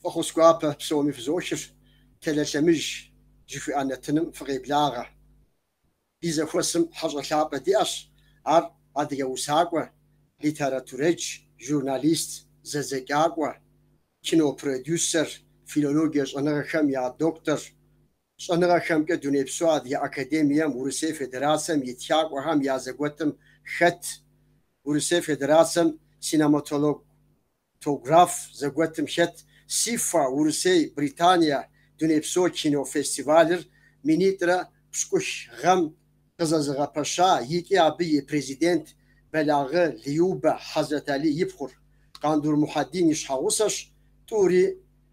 Фӏэхъус гуапэ псоми фызохыр, Телэ лъэмыж жыхуиӏэ нэтыным фыкъеблагъэ. Ди зэхуэсым хьэщӏэ лъапӏэ диӏэщ, ар адыгэ усакӏуэ, литературэдж, журналист, зэдзэкӏакӏуэ, кинопродюсер, филологие щӏэныгъэхэм я доктор, Щӏэныгъэхэмкӏэ Дунейпсо Адыгэ академием Урысей Федерацэм и Тхакӏуэхэм я зэгуэтым хэт Урысей Федерацэм Синематологтограф зэгуэтым хэт СИФА Урысей, Британия Дунейпсо кинофестивалыр минитӏрэ пщыкӏух гъэм къызэзыгъэпэща икӏи абы и Президент Бэлагъы Любэ Хьэзрэталий и пхъур, Къандур Мухьэдин и щхьэгъусэщ тӏури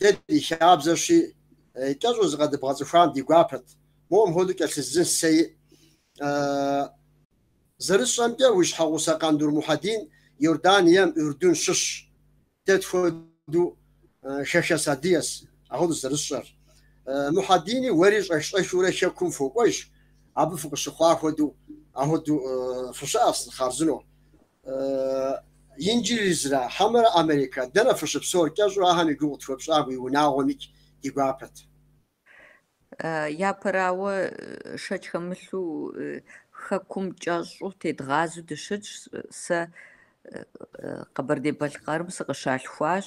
Дэ ди хабзэщи, кӏэщӏу зыкъэдыбгъэцӏыхуам ди гуапэт. Моуэм хуэдэу кӏэлъыздзын сэ и. Зэрысщӏэмкӏэ, уи щхьэгъусэ Къандур Мухьэдин Иорданием, Урдун, щыщщ. Дэ тхуэдэу хэхэс адыгэс, ахуэдэущ зэрысщӏэр. Мухьэдини уэри щӏэх-щӏэхыурэ Хэкум фокӏуэж, абы фыкъыщыхъуа хуэдэу, ахуэдэу фыщыӏэс, хъарзынэу. Инджылызрэ хьэмэрэ Америкэ, дэнэ фыщыпсэур? Кӏэщӏу ахэм и гугъу къытхуэпщӏам уи унагъуэмикӏ ди гуапэт. Япэрауэ, шэч хэмылъу Хэкум кӏэщӏу тедгъазэу дыщытщ. Сэ Къэбэрдей-Балъкъэрым сыкъыщалъхуащ.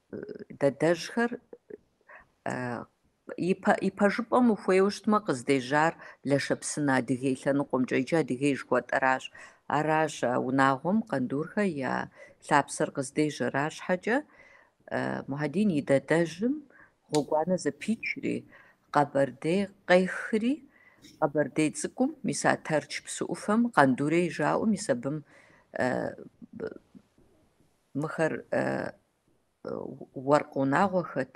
Дадэжьхэр и пэжыпӏэм ухуейуэ щытмэ, къыздежьар Лэшэпсынэ Адыгей лъэныкъуэмкӏэ, иджы Адыгей жыхуэтӏэращ. Аращ а унагъуэм Къандурхэ я лъапсэр къыздежьэр. Арщхьэкӏэ Мухьэдин и дадэжьым гъуэгуанэ зэпичри, Къэбэрдей къехри, Къэбэрдей Цӏыкӏум, мис а Тэрч псы ӏуфэм Къандурей жаӏэу, мис абым Мыхэр уэркъ унагъуэхэт,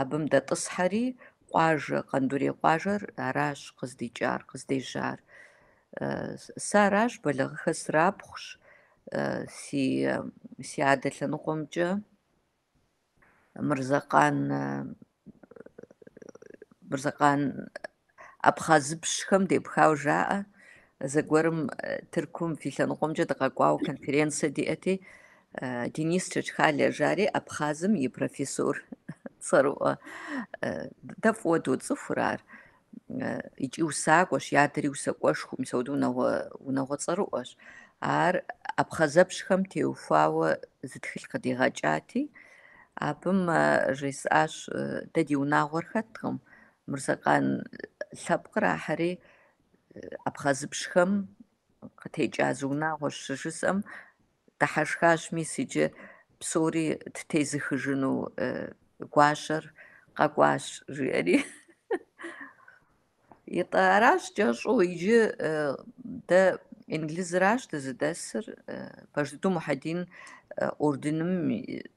абым дэтӏысхьэри, къуажэ, Къандурей къуажэр аращ къыздикӏар, къыздежьар. Сэ аращ, Бэлагъыхэ срапхъущ, си адэ лъэныкъуэмкӏэ Мырзэкъан Мырзэкъан абхъазыпщхэм депхауэ жаӏэ, зэгуэрым Тыркум фи лъэныкъуэмкӏэ дыкъэкӏуауэ конференцэ диӏэти, Денис Чэчхалэ жари абхъазым и профессор цӏэрыӏуэ. Дэ фӏыуэ доцӏыхур ар. икӏи усакӏуэщ, и адэри усакӏуэшхуэу, мис ауэдэу унагъуэ, унагъуэ цӏэрыӏуэщ. Ар абхъазыпщхэм теухуауэ зы тхылъ къыдигъэкӏати, абым жесӏащ, дэ ди унагъуэр хэткъым, Мырзэкъан лъэпкъыр ахьэри абхъазыпщхэм къытекӏа зы унагъуэщ, щыжысӏэм, Дыхьэшхащ мис иджы псори ттезыхыжыну гуащэр къэкӏуащ, жиӏэри. Итӏэ, аращ кӏэщӏу иджы дэ Инглизыращ дызыдэсыр, пэж дыдэу Мухьэдин Иорданым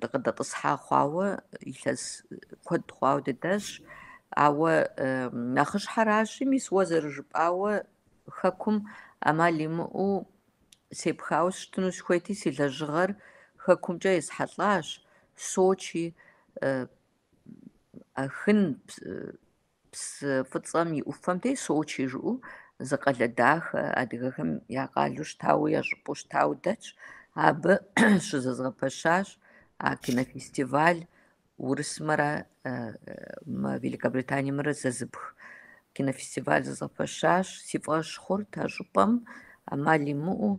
дыкъыдэтӏысхьа хъуауэ илъэс куэд хъуауэ дыдэсщ, ауэ нэхъыщхьэращи, мис уэ зэрыжыпӏауэ хэкум ӏэмал имыӏэу сепхауэ сщытыну сыхуейти, си лэжьыгъэр хэкумкӏэ есхьэлӏащ, Сочи, Ахын Псы фӏыцӏэм и ӏуфэм де Сочи жыӏэу зы къалэ дахэ адыгэхэм я къалэу щытауэ, я щӏыпӏэу щытауэ дэтщ. Абы щызэзгъэпэщащ а кинофестиваль урысымрэ мы Великобританиемрэ зэзыпх кинофестиваль зэзгъэпэщащ. Си фӏэщ хъурт а щӏыпӏэм ӏэмал имыӏэу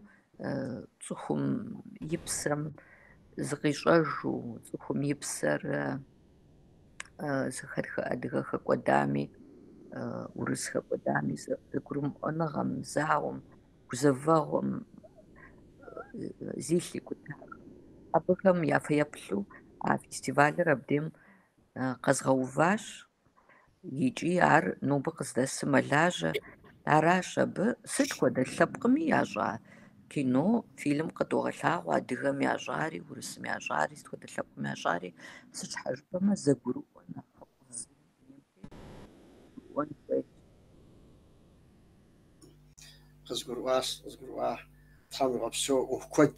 цӏыхум и псэм зыкъищӏэжу, цӏыхум и псэр зыхэтхэ адыгэ хэкӏуэдами, урыс хэкӏуэдами, зэгурымыӏуэныгъэм, зауэм, гузэвэгъуэм зилъ икӏутахэм. Абыхэм я фэеплъу а фестивалыр абдейм къэзгъэуващ. Икӏи ар нобэ къыздэсым мэлажьэ, аращ абы сыт хуэдэ лъэпкъми ящӏа кино, фильм къыдогъэлъагъуэ адыгэм ящӏари, урысым ящӏари, сыт хуэдэ лъэпкъым ящӏари, сыт щхьэ жыпӏэмэ зэгурыӏуэ нэхъыфӏ зыри дунейм тету жыпӏэжыӏуэн хуейт. къызгурыӏуащ, къызгурыӏуа, Тхьэм уигъэпсэу, ӏуэху куэд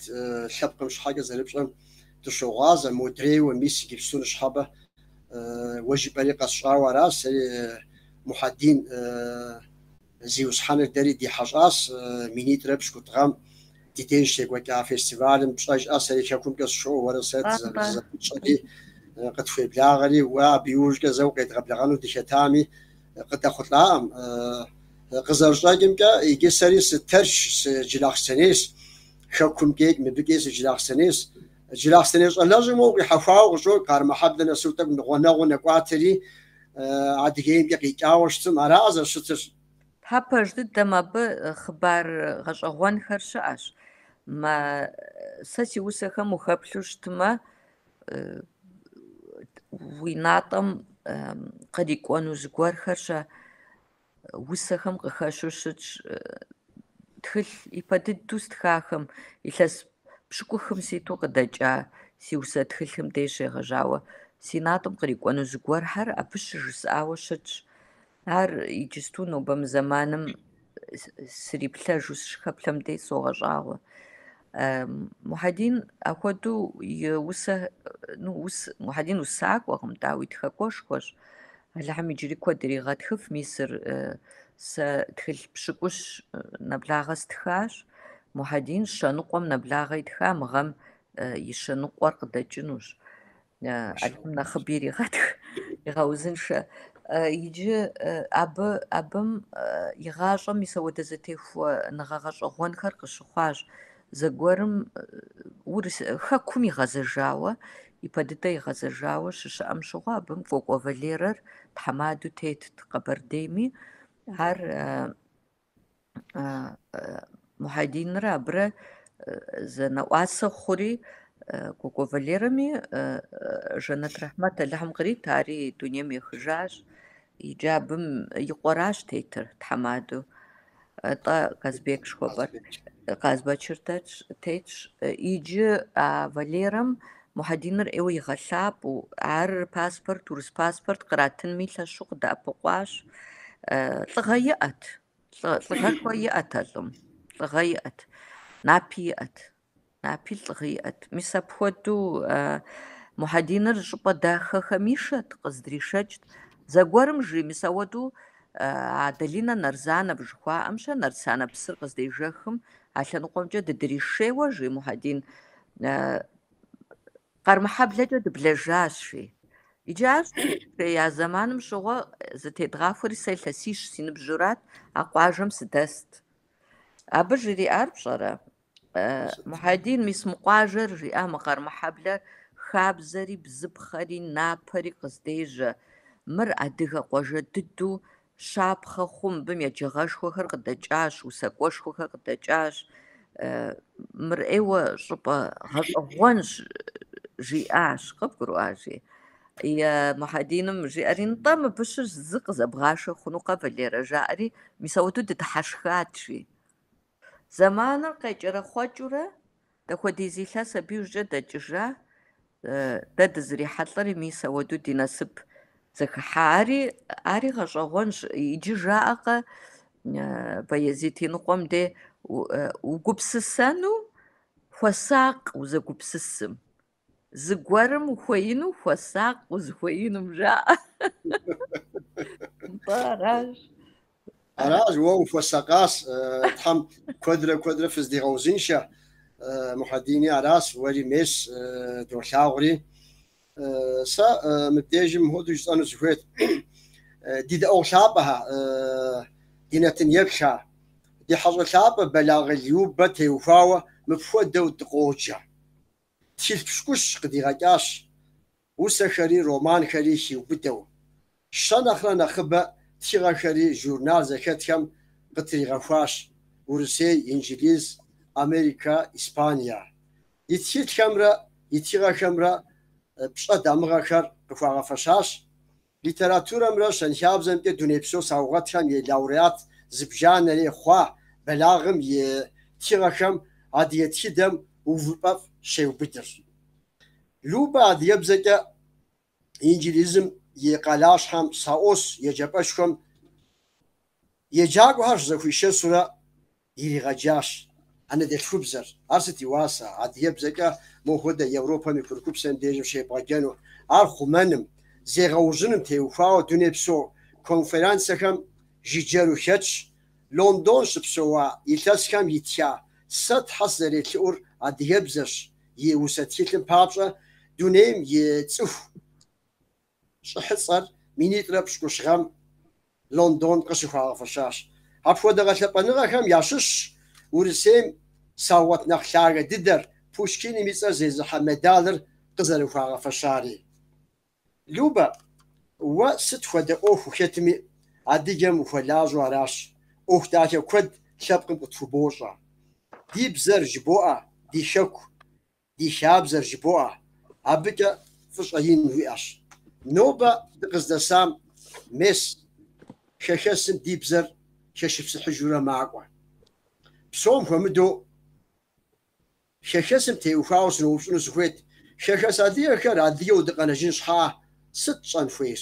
лъэпкъым щхьэкӏэ зэрыпщӏэм дыщогъуазэ, модрейуэ, мис иджыпсту ныщхьэбэ, уэ жыпӏэри къэсщӏауэ аращ, сэри Мухьэдин зиусхьэныр дэри ди хьэщӏащ, минитӏрэ пщыкӏутӏ гъэм ди деж щекӏуэкӏа фестивалым папщӏэкӏэ, сэри хэкумкӏэ сщоуэ, уэрэ сэ дызэрыпщӏэри, къытхуеблагъэри, уэ абы иужькӏэ зэ укъедгъэблэгъэну дыхэтами, къыдэхъулӏакъым. Къызэрыщӏэкӏымкӏэ, иджы сэри сытэрчщ, сыджылахъстэнейщ, хэкум дейкӏи, мыбыкӏи сыджылахъстэнейщ. Джылахъстэней щӏалэщи моуэ къихьэхуауэ къыщӏокӏ, Къармэхьэблэ нэсу тӏэкӏу нэхъ гъунэгъуу нэкӏуатэри, Адыгеймкӏэ къикӏауэ щытым. Аракъэ зэрыщытыр? Тхьэ пэж дыдэм абы хъыбар гъэщӏэгъуэнхэр щыӏэщ. Мэ, сэ си усэхэм ухэплъу щытмэ, уи натӏэм кърикӏуэну зыгуэрхэр щэ усэхэм къыхэщу щытщ тхылъ ипэ дыдэу стхахэм илъэс пщыкӏухым ситу къыдэкӏа си усэ тхылъым деж щегъэжьауэ си натӏэм кърикӏуэну зыгуэрхэр абы щыжысӏауэ щытщ Ар иджысту нобэ мы зэманым сриплъэжу сыщыхэплъэм дей согъэщӏагъуэ. Мухьэдин ахуэдэу и усэ, ну, ус, Мухьэдин усакӏуэкъым, дауи тхакӏуэшхуэщ. Алыхьым иджыри куэд иригъэтхыф, мис сэ тхылъ пщыкӏущ нэблагъэ стхащ. Мухьэдин щэныкъуэм нэблагъэ итха, мы гъэм и щэныкъуэр къыдэкӏынущ. Алыхьым нэхъыби иригъэтх, игъэузыншэ. Иджы абы абым и гъащӏэм мис ауэдэ зэтехуэныгъэ гъэщӏэгъуэнхэр къыщыхъуащ. Зэгуэрым ар хэкум игъэзэжауэ, ипэ дыдэ игъэзэжауэ щыщыӏэм щыгъуэ абым Кӏуэкӏуэ Валерэр тхьэмадэу тетт Къэбэрдейми. Ар Мухьэдинрэ абырэ зэнэӏуасэ хъури, Кӏуэкӏуэ Валерэми жэнэт рэхьмэт Алыхьым кърит, ари дунейм ехыжащ, иджы абым и къуэращ тетыр тхьэмадэу. Атӏэ Казбек жыхуэпӏэр Къазбэчыр тетщ, иджы а Валерэм Мухьэдиныр ӏейуэ игъэлъапӏэу, ар паспорт, урыс паспорт къратынми лъэщу къыдэӏэпыкъуащ. Лӏыгъэ иӏэт, лӏыгъэшхуэ иӏэт а лӏым, лӏыгъэ иӏэт, напи иӏэт, напи лӏыгъэ иӏэт. Мис апхуэдэу Мухьэдиныр щӏыпӏэ дахэхэм ишэт, къыздришэкӏт. Зэгуэрым жи, мис ауэдэу а Долинэ Нарзанэ жыхуаӏэм щэ, Нарсанэ псыр къыздежэхым, а лъэныкъуэмкӏэ дыдришейуэ, жи Мухьэдин. Къармэхьэблэкӏэ дыблэжащ, жи. Иджы ар щӏея зэманым щыгъуэ зэтедгъахуэри сэ илъэсищ си ныбжьурат, а къуажэм сыдэст. Абы жриӏар пщӏэрэ? Мухьэдин, мис мы къуажэр, жиӏа мы Къармэхьэблэр, хабзэри, бзыпхъэри, напэри къыздежьэ. Мыр адыгэ къуажэ дыдэу Щапхъэ хъун мыбым еджагъэшхуэхэр къыдэкӏащ, усакӏуэшхуэхэр къыдэкӏащ. Мыр ӏейуэ щӏыпӏэ гъэщӏэгъуэнщ, жиӏащ. Къыбгурыӏуа, жи. Мухьэдиным жиӏэри, Нтӏэ, мыбы щыщ зы къызэбгъашэ хъунукъэ, Валерэ, жаӏэри, мис ауэдэу дыдыхьэшхат, жи. Зэманыр къекӏэрэхъуэкӏыурэ, дапхуэдиз илъэс абы иужькӏэ дэкӏыжа, дэ дызэрихьэлӏэри мис ауэдэу ди насып зэхыхьа. Ари, ари гъэщӏэгъуэнщ. Иджы жаӏэкъэ, Баязит и ныкъуэм де, угупсысэну хуэсакъ узэгупсысым. Зыгуэрым ухуеину хуэсакъ, узыхуеинум жаӏэ. Нтӏэ, аращ. Аращ, уэ ухуэсакъащ, э, Тхьэм куэдрэ куэдрэ фыздигъэузыншэ, э, Мухьэдини, аращ, уэри мес, э, долъагъури. Э, Сэ э, мыбдежым мыхуэдэу жысӏэну сыхуейт. Э, Ди дэӏуэгъу лъапӏэхэ, э, ди нэтын еплъхэ, ди хьэщӏэ лъапӏэ Бэлагъы Любэ теухуауэ мыпхуэдэу дыкъоджэ. Тхылъ пщӏыкӏущ къыдигъэкӏащ усэхэри, романхэри хиубыдэу. Щэ нэхърэ нэхъыбэ тхыгъэхэри журнал зэхэтхэм къытригъэхуащ, Урысей, Инджылыз, Америкэ, Испание. И тхылъхэмрэ и тхыгъэхэмрэ пщӏэ дамыгъэхэр къыхуагъэфэщащ Литературэмрэ щэнхабзэмкӏэ дунейпсо саугъэтхэм и лауреат зыбжанэрэ хъуа Бэлагъым и тхыгъэхэм адыгэ тхыдэм увыпӏэфӏ щеубыдырщ. Любэ адыгэбзэкӏэ инджылызым и къалащхьэм SOAS еджапӏэшхуэм еджакӏуэхэр щызэхуишэсурэ. иригъэджащ. Анэдэлъхубзэр, ар сыт и уасэ, адыгэбзэкӏэ мо хуэдэ Европэм и курыкупсэм дежым щебгъэджэну, ар хъумэным, зегъэужьыным теухуауэ дунейпсо конференцэхэм жыджэру хэтщ, Лондон щыпсэуа илъэсхэм итха сэ тхьэ сызэрелъэӏур адыгэбзэщ, и усэ тхылъым папщӏэ дунейм и цӏыху, Щӏыхьыцӏэр минитӏрэ пщӏыкӏущ гъэм Лондон къыщыхуагъэфэщащ. Апхуэдэ гъэлъэпӏэныгъэхэм ящыщщ Урысейм саугъэт нэхъ лъагэ дыдэр, Пушкиным и цӏэр зезыхьэ медалыр къызэрыхуагъэфэщари. Любэ, уэ сыт хуэдэ ӏуэху ухэтми, Адыгэм ухуэлажьэу аращ. ӏуэху дахэ куэд лъэпкъым къытхубощӏэ. Ди бзэр жыбоӏэ, ди хэку. ди хабзэр жыбоӏэ, абыкӏэ фӏыщӏэ ин уиӏэщ. Нобэ дыкъыздэсам мес хэхэсым ди бзэр хэшыпсыхьыжурэ макӏуэ. Псом хуэмыдэу хэхэсым теухуауэ сыноупщӏыну сыхуейт, хэхэс адыгэхэр адыгэу дыкъэнэжын щхьэкӏэ сыт тщӏэн хуейр?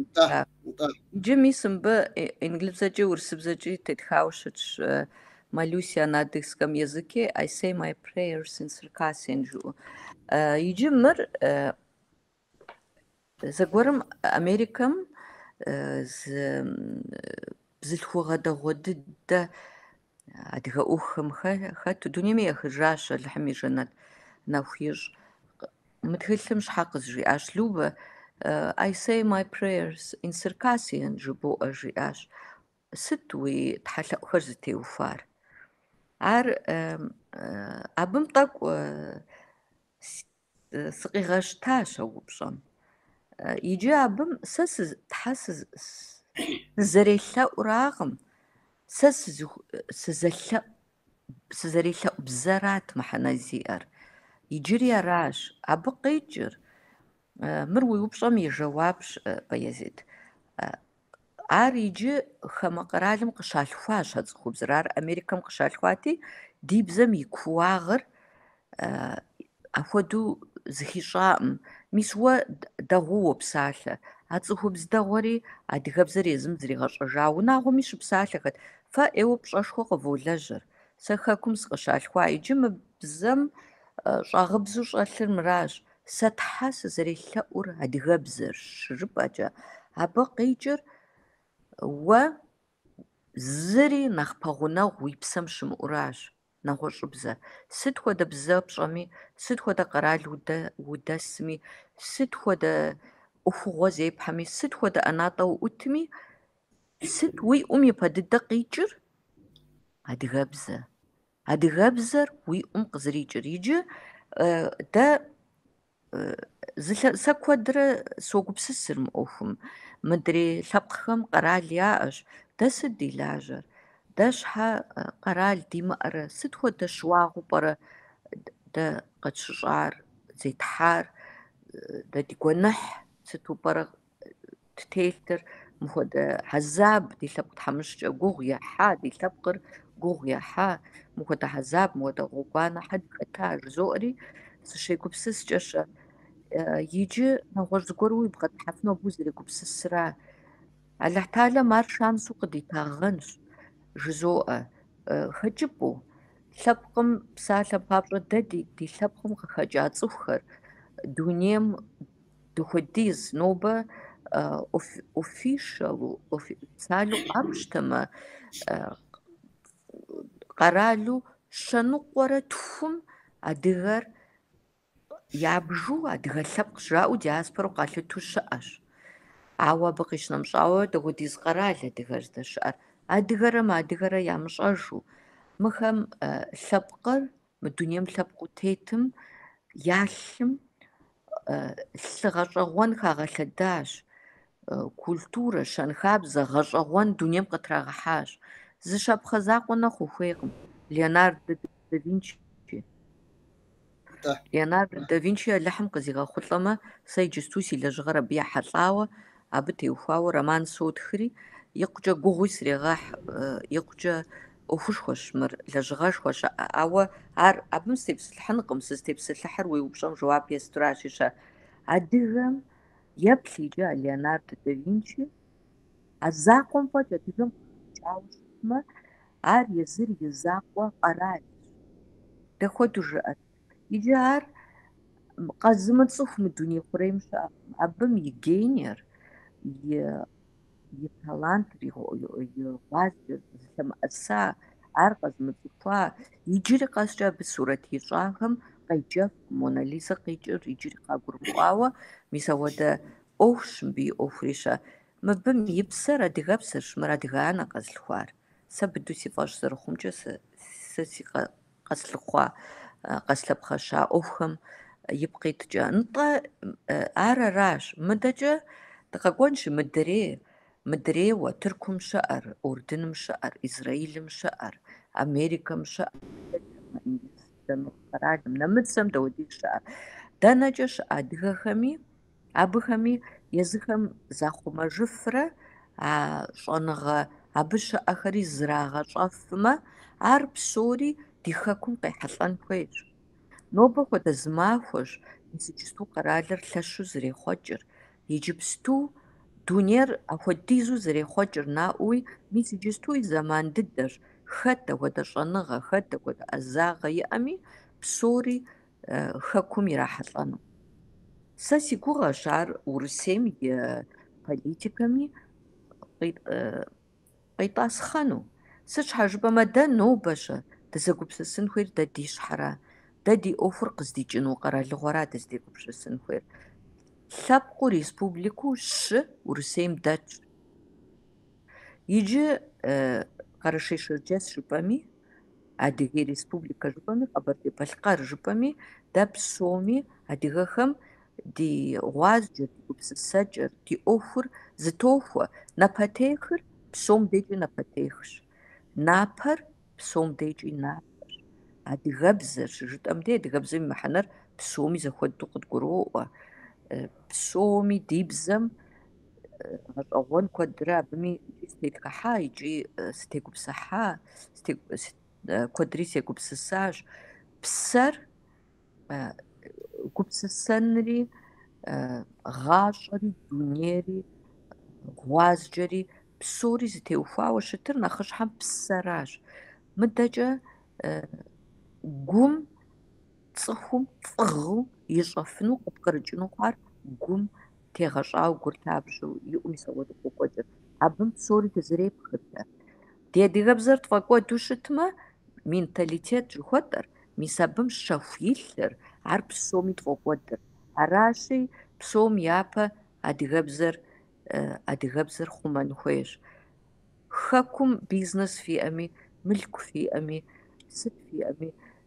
Нтӏэ, А. нтӏэ. Иджы мис мыбы и- инджылызыбзэкӏи урысыбзэкӏи тетхауэ щытщ э, Молюсь я на адыгском языке I say my prayers in Circassian жыӏэу. Э, Иджы мыр э, зэгуэрым Америкэм э, зы м, бзылъхугъэ дэгъуэ дыдэ адыгэ ӏуэхухэм хэту дунейми ехыжащ Алыхьым и жэнэт нэху ищӏ. Мы тхылъым щхьэ къызжиӏащ Любэ I say my prayers in Circassian жыбоӏэ жиӏащ. Сыт уи тхьэлъэӏухэр зытеухуар? Ар абым тӏэкӏу Сыкъигъэщтащ а упщӏэм. Иджы абым сэ Тхьэ сызэрелъэӏуракъым, сэ сызу- сызэлъэӏу сызэрелъэӏу бзэрат мыхьэнэ зиӏэр. Иджыри аращ абы къикӏыр. Мыр уи упщӏэм и жэуапщ, Баязид. Ар иджы хамэ къэралым къыщалъхуащ а цӏыхубзыр. Ар Америкэм къыщалъхуати, ди бзэм и кууагъыр апхуэдэу зыхищӏакъым. Мис уэ дэгъуу уопсалъэ. А цӏыхубз дэгъуэри адыгэбзэр езым зригъэщӏэжа унагъуэми щыпсалъэхэт. Фэ ӏейуэ пщӏэшхуэ къыволэжьэр. Сэ Хэкум сыкъыщалъхуа иджы мы бзэм щӏагъыбзу щӏэлъыр мыращ. Сэ Тхьэ сызэрелъэӏур адыгэбзэрщ щыжыпӏэкӏэ, абы къикӏыр уэ зыри нэхъ пэгъунэгъу уи псэм щымыӏэу аращ, нэгъуэщӏыбзэ. Сыт хуэдэ бзэ пщӏэми, сыт хуэдэ къэрал удэ- удэсми, сыт хуэдэ ӏуэхугъуэ зепхьэми, сыт хуэдэ ӏэнатӏэ уӏутми, сыт уи ӏум ипэ дыдэ къикӏыр? Адыгэбзэ. Адыгэбзэр уи ӏум къызэрикӏыр иджы дэ сэ куэдрэ согупсысыр мы ӏуэхум. Мыдрей лъэпкъхэм къэрал яӏэщ. Дэ сыт ди лажьэр? Дэ щхьэ къэрал димыӏэрэ? Сыт хуэдэ щыуагъэу пӏэрэ дэ къэтщыщӏар, зетхьар? Дэ ди гуэныхь сыту пӏэрэ ттелътэр, мыхуэдэ хьэзаб ди лъэпкъ тхьэмыщкӏэ гугъу ехьа, ди лъэпкъыр гугъу ехьа, мыхуэдэ хьэзаб, мыхуэдэ гъуэгуанэ хэт хэта, жызоӏэри, сыщегупсыскӏэ-щэ. Иджы нэгъуэщӏ зыгуэруи убгъэдыхьэфыну абы узэрегупсысра? Алыхь Тэхьэлэм ар шансу къыдитагъэнщ, жызоӏэ, хэкӏыпӏэу, лъэпкъым псалъэ папщӏэ дэ ди лъэпкъым къыхэкӏа цӏыхухэр дунейм Дапхуэдиз нобэ офишалу, официалу къапщтэмэ, къэралу щэныкъуэрэ тхум адыгэр ябжу адыгэ лъэпкъ жаӏэу диаспорэу къалъыту щыӏэщ. Ауэ абы къищынэмыщӏауэ, дапхуэдиз къэрал адыгэр здэщыӏэр, адыгэрэ мыадыгэрэ ямыщӏэжу, мыхэм лъэпкъыр Мы дунейм лъэпкъыу тетым я лъым лъы гъэщӏэгъуэн хагъэлъэдащ, культурэ, щэнхабзэ, гъэщӏэгъуэн дунейм къытрагъэхьащ. Зы щапхъэ закъуэ нэхъ ухуейкъым. Леонардо да Винчи. Леонардо да Винчи Алыхьым къызигъэхъулӏэмэ, сэ иджысту си лэжьыгъэр абы ехьэлӏауэ, абы теухуауэ роман сотхри, икъукӏэ гугъуи срегъэхь, икъукӏэ ӏуэхушхуэщ мыр, лэжьыгъэшхуэ щыӏэ, ауэ ар абым сытепсэлъыхьынкъым, сызытепсэлъыхьыр уи упщӏэм жэуап есту аращи-щэ. Адыгэм еплъ иджы а Леонардо да Винчи, а закъуэм фӏэкӏ адыгэм къыхэкӏауэ щытмэ, ар езыр и закъуэ къэралщ. Дапхуэдэу жыӏэт. Иджы ар къэзымыцӏыху мы дуней хъурейм щыӏэкъым, абым и гениер, и и талантыр, и гъуазджэр зылъэмыӏэса, ар къэзымыцӏыхуа, иджыри къэскӏэ абы сурэт ищӏахэм къеджэфкъым, Мона Лизэ къикӏыр иджыри къагурымыӏуауэ, мис апхуэдэ ӏуэхущ мыбы и ӏуэхури-щэ. Мыбым и псэр адыгэпсэрщ, мыр адыгэ анэ къэзылъхуар. Сэ быдэу си фӏэщ зэрыхъумкӏэ, сэ си Къэслъыхъуа, къэслъэпхъэща ӏуэхухэм ипкъ иткӏэ, нтӏэ, ар аращ, мыдэкӏэ дыкъэкӏуэнщи, мыдрей, мыдрейуэ, Тыркум щыӏэр, Урдыным щыӏэр, Израилым щыӏэр, Америкэм щыӏэр, Африкэмрэ Индийскэ Ныкъу къэралым, нэмыцэм дапхуэдиз щыӏэр, дэнэкӏэ щыӏэ адыгэхэми, Абыхэми езыхэм захъумэжыфрэ а щӏэныгъэ абы щыӏэхэри зрагъэщӏэфмэ, ар псори ди хэкум къехьэлӏэн хуейщ. Нобэ хуэдэ зы махуэщ, мис иджыпсту къэралыр лъэщу зэрехъуэкӏыр, иджыпсту дунейр апхуэдизу зэрехъуэкӏыр наӏуэуи, мис иджысту и зэман дыдэщ, хэт апхуэдэ щӏэныгъэ, хэт апхуэдэ ӏэзагъэ иӏэми, псори хэкум ирахьэлӏэну. Сэ си гугъэщ ар Урысейм и политикэми къитӏасхъэну. Сыт щхьэ жыпӏэмэ, дэ нобэ-щэ дызэгупсысын хуейр дэ ди щхьэра, дэ ди ӏуэхур къыздикӏыну къэралыгъуэра дыздегупсысын хуейр. Лъэпкъыу республикэу щы Урысейм дэтщ. Иджы Къэрэшей-Шэрджэс жыпӏэми, Адыгей Республикэ жыпӏэми, Къэбэрдей-Балъкъэр жыпӏэми, дэ псоми, адыгэхэм, ди гъуазджэр, ди гупсысэкӏэр, ди ӏуэхур зытохуэ. Напэтехыр псом декӏи напэтехщ. Напэр псом декӏи напэщ. Адыгэбзэр щыжытӏэм де, адыгэбзэм и мыхьэнэр псоми зэхуэдэу къыдгуроӏуэ. Псоми ди бзэм гъэщӏэгъуэн куэдрэ абыми икӏи сытетхыхьа, икӏи сытегупсыхьа, куэдри сегупсысащ. Псэр гупсысэнри, гъащӏэри, дунейри, гъуазджэри псори зытеухуауэ щытыр нэхъыщхьэм псэращ. Мыдэкӏэ гум цӏыхум фӏыгъуэу ищӏэфыну, къыпкърыкӏыну хъуар гум Тегъэщӏауэ гуртапщэу иӏум сауэт къокӏуэдыр. Абым псори дызрепхырт. Ди адыгэбзэр тфӏэкӏуэду щытмэ, менталитет жыхуэтӏэр, мис абым щэху илъыр, ар псоми тфӏокӏуэдыр. Аращи, псом япэ адыгэбзэр адыгэбзэр хъумэн хуейщ. Хэкум бизнес фиӏэми, мылъку фиӏэми, сыт фиӏэми,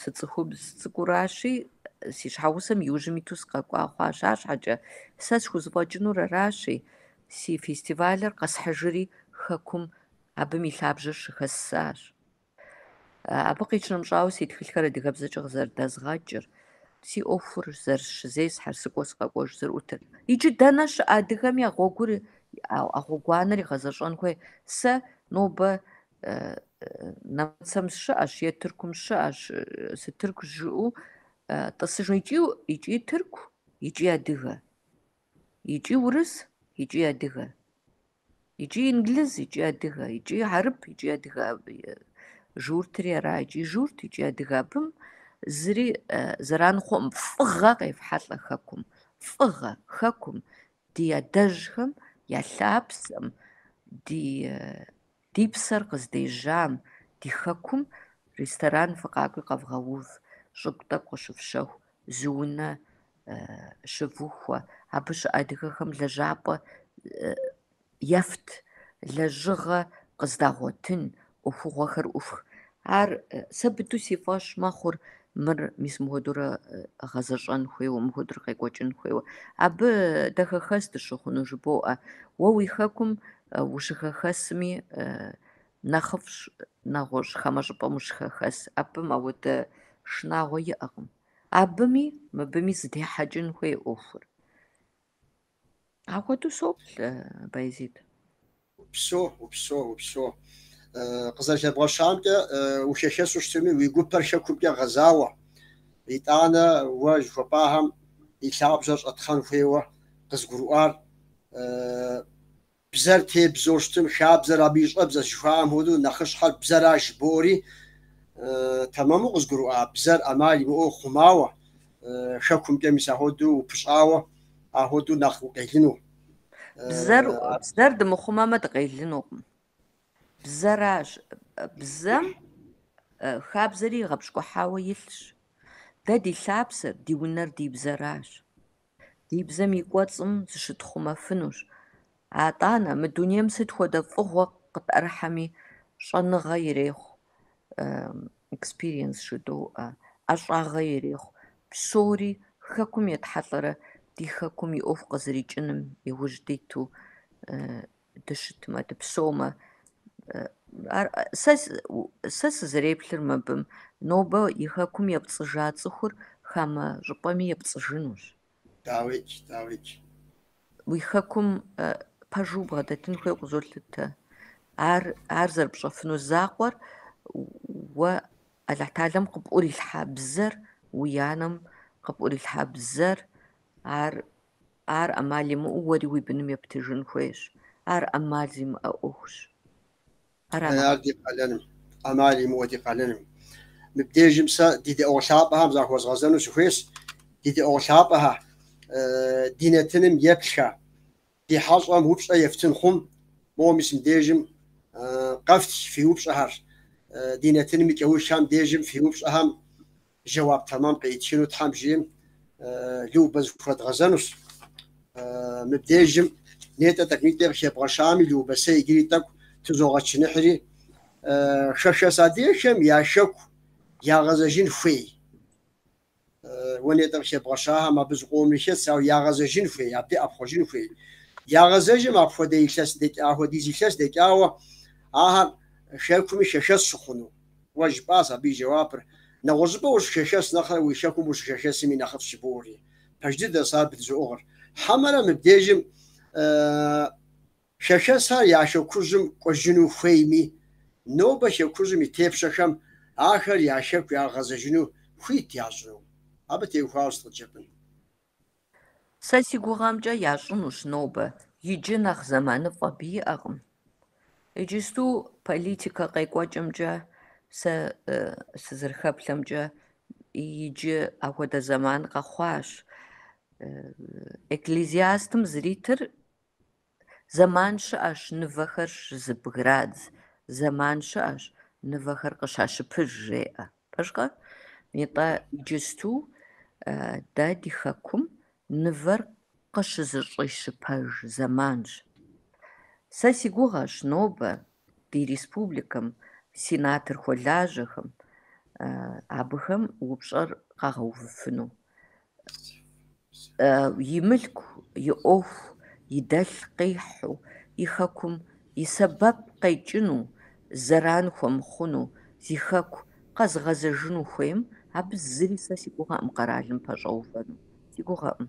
сыцӏыхубз цӏыкӏуращи, си щхьэгъусэм иужьым иту сыкъэкӏуа хъуащ. Арщхьэкӏэ сэ схузэфӏэкӏынур аращи, си фестивалыр къэсхьыжри Хэкум абым и лъабжьэр щыхэссащ. Абы къищынэмыщӏауэ, си тхылъхэр адыгэбзэкӏэ къызэрыдэзгъэкӏыр, си ӏуэхур зэрысщызесхьэр, сыкӏуэ сыкъэкӏуэжу зэрыӏутыр. Иджы дэнэ щыӏэ адыгэми а гъуэгур, а гъуэгуанэр игъэзэщӏэн хуей? Сэ нобэ Нэмыцэм сыщыӏэщ е Тыркум сыщыӏэщ сытырку жыӏэу тӏысыжу икӏи икӏи тырку икӏи адыгэ икӏи урыс икӏи адыгэ икӏи инглиз икӏи адыгэ икӏи хьэрып икӏи адыгэ журтри ара икӏи журт икӏи адыгэ абым зыри зэран хъуӏым фӏыгъэ къефхьэлӏэ хэкум фӏыгъэ хэкум ди адэжьхэм я лъапсэм ди Ди псэр къыздежьам, ди хэкум ресторан фыкъакӏуи къэвгъэув, щӏыгу тӏэкӏу къыщыфщэху, зы унэ щывухуэ. Абы щыӏэ адыгэхэм лэжьапӏэ ефт, лэжьыгъэ къыздагъуэтын, ӏуэхугъуэхэр ӏуфх. Ар сэ быдэу си фӏэщ мэхъур мыр мис мыхуэдурэ гъэзэщӏэн хуейуэ, мыхуэдурэ къекӏуэкӏын хуейуэ. Абы дэ хэхэс дыщыхъуну жыбоӏэ. Уэ уи хэкум ущыхэхэсми нэхъыфӏщ нэгъуэщӏ, хамэ щӏыпӏэм ущыхэхэс. Абым ауэдэ шынагъуэ иӏэкъым. Абыми, мыбыми зыдехьэкӏын хуей ӏуэхур. Ахуэдэу соплъ, Байзид. Упсо, упсо, упсо. Къызэрыхэбгъэщамкӏэ ухэхэсу щытми, уи гупэр хэкумкӏэ гъэзауэ. Итӏанэ уэ жыхуэпӏахэм и лъабжьэр щӏэтхъэн хуейуэ къызгурыӏуар Бзэр тебзэу щытмэ, хабзэр абы и щӏэбзэщ жыхуаӏэм хуэдэу, нэхъыщхьэр бзэращ жыбоӏэри, тэмэму къызгурыӏуа бзэр ӏэмал имыӏэу хъумауэ, хэкумкӏэ мис ахуэдэу упыщӏауэ, ахуэдэу нэхъ укъелыну. Бзэр, бзэр дымыхъумэмэ дыкъелынукъым. Бзэращ, бзэм хабзэри игъэпщкӏухьауэ илъщ. Дэ ди лъапсэр, ди унэр ди бзэращ. Ди бзэм и кӏуэцӏым зыщытхъумэфынущ. Атӏанэ, мы дунейм сыт хуэдэ фӏыгъуэ къытӏэрыхьэми щӏэныгъэ ирехъу, экспириенс жыдоӏэ, ӏэщӏагъэ ирехъу, псори Хэкум етхьэлӏэрэ ди Хэкум и ӏуэху къызэрикӏыным иужь диту дыщытмэ, дыпсомэ, ар сэ сызэреплъыр мыбым, нобэ и хэкум епцӏыжа цӏыхур хамэ щӏыпӏэми епцӏыжынущ. Дауикӏ, дауикӏ. Уи хэкум пэжу убгъэдэтын хуейуэ къызолъытэ. Ар, ар зэрыпщӏэфыну закъуэр уэ Алыхь Тэхьэлэм къыпӏурилъхьа бзэр, уи анэм къыпӏурилъхьа бзэр, ар Ар ӏэмал имыӏэу уэри уи быным ептыжын хуейщ. Ар ӏэмал зимыӏэ ӏуэхущ. Ар ди къалэнщ. ӏэмал имыӏэу ди къалэнщ. Мыбдежым сэ ди дэӏуэ лъапӏэхэм захуэзгъэзэну сыхуейщ, ди дэӏуэ лъапӏэхэ, ди нэтыным еплъхэ, ди хьэщӏэм упщӏэ ефтын хъумэ, моуэ мис мыбдежым къэфтх фи упщӏэхэр, ди нэтыным и кӏэухым дежым фи упщӏэхэм Жэуап тэмэм къритыну Тхьэм жиӏэмэ, Любэ зыхуэдгъэзэнущ. Мыбдежым нетӏэ тӏэкӏунитӏи къыхэбгъэщами, Любэ, сэ иджыри тӏэкӏу тызогъэчыныхьри, хэхэс адыгэхэм я хэку ягъэзэжын хуей. Уэ нетӏэ къыхэбгъэщахэм абы зыкъомри хэтщ, ауэ ягъэзэжын хуей, абдей ӏэпхъуэжын хуей. Ягъэзэжмэ апхуэдэ илъэс дэкӏа, апхуэдиз илъэс дэкӏауэ ахэр хэкуми хэхэс щыхъуну. Уэ жыпӏащ абы и жэуапыр, Нэгъуэщӏыпӏэ ущыхэхэс нэхърэ уи хэкум ущыхэхэсми нэхъыфӏщ жыбоӏэри. Пэж дыдэщ ар бдызоӏыгъыр. Хьэмэрэ мыбдежым хэхэсхэр я хэкужьым кӏуэжыну хуейми, нобэ хэкужьым и тепщэхэм ахэр я хэку ягъэзэжыну хуит ящӏыну? Абы теухуауэ сыт къыжыпӏэн? Сэ си гугъэмкӏэ ящӏынущ нобэ, иджы нэхъ зэманыфӏэ абы иӏэкъым. Иджысту политикэ къекӏуэкӏымкӏэ сэ сызэрыхэплъэмкӏэ иджы ахуэдэ зэман къэхъуащ. Экклезиастым зэритыр Зэман щыӏэщ нывэхэр щызэбградз, зэман щыӏэщ нывэхэр къыщащыпыж, жеӏэ. Пэжкъэ? Нитӏэ иджысту дэ ди хэкум нывэр къыщызэщӏищыпэж зэманщ. Сэ си гугъэщ нобэ ди республикэм сенатору хуэлажьэхэм абыхэм упщӏэр къагъэувыфыну. и мылъку, и ӏуэху, и дэлъ къихьу, и хэкум и сэбэп къекӏыну, зэран хуэмыхъуну, зи хэку къэзыгъэзэжыну хуейм, абы зыри сэ си гугъэкъым къэралым пэщӏэувэну. Си гугъэкъым.